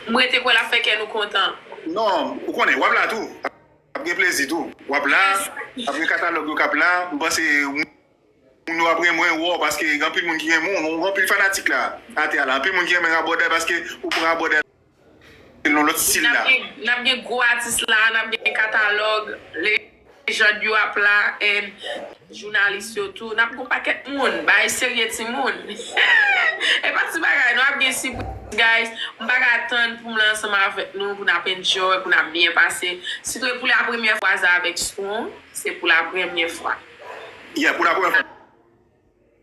M rete kwè l ap fè kè nou kontan. Non, ou konnen, w ap la tou. Ap gen plezi tou. W ap la, ap gen katalòg yo k ap la. M panse moun yo ap renmwen wè w paske gen anpil moun ki renmen w. Ou gen anpil fanatik la atè a la. Anpil moun ki renmen Rabòday paske ou pran Rabòday nan lòt stil la. N ap gen gwo atis la, n ap gen katalòg. Lejand yo ap la and jounalis yo tou nap gon paket moun bay serye timoun epa ti bagay non ap gen sipwiz guys m paka tann poum la ansanm avek nou pou nap enjoy pou nap byen pase sitre pou la premye fwa sa avek strong se pou la premye fwa. Yeah pou la premye fwa.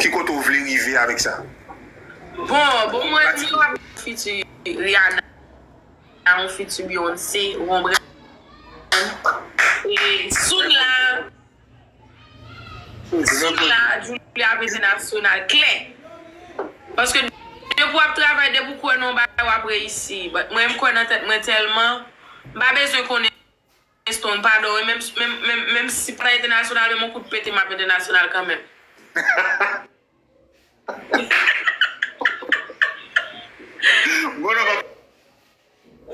Ki kote ou vle rive avèk sa? Bon bon mwen menm yo ap di fiti Rihanna yon fiti Beyoncé ou konprann e soon la soon la Djouli ap entènasyonal klè paske depi wap travay depi ou kwè nan yon bagay wap reyisi but mwen menm kwè nan tèt mwen tèlman m pa bezwen konnen Eston padon wi menm menm menm si pa entènasyonal menm yon kout pete map entènasyonal kanmenm. Bon nan pap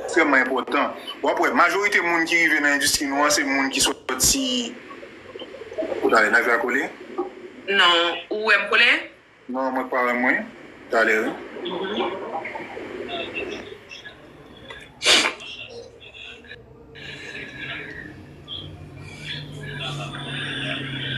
ekstrèmman enpòtan. Wap wè majorite moun ki rive nan endistri nou an se moun ki sòti Kote ale naj la kole? Non ou wèm kole? Non mwen pa wè mwen talè wi.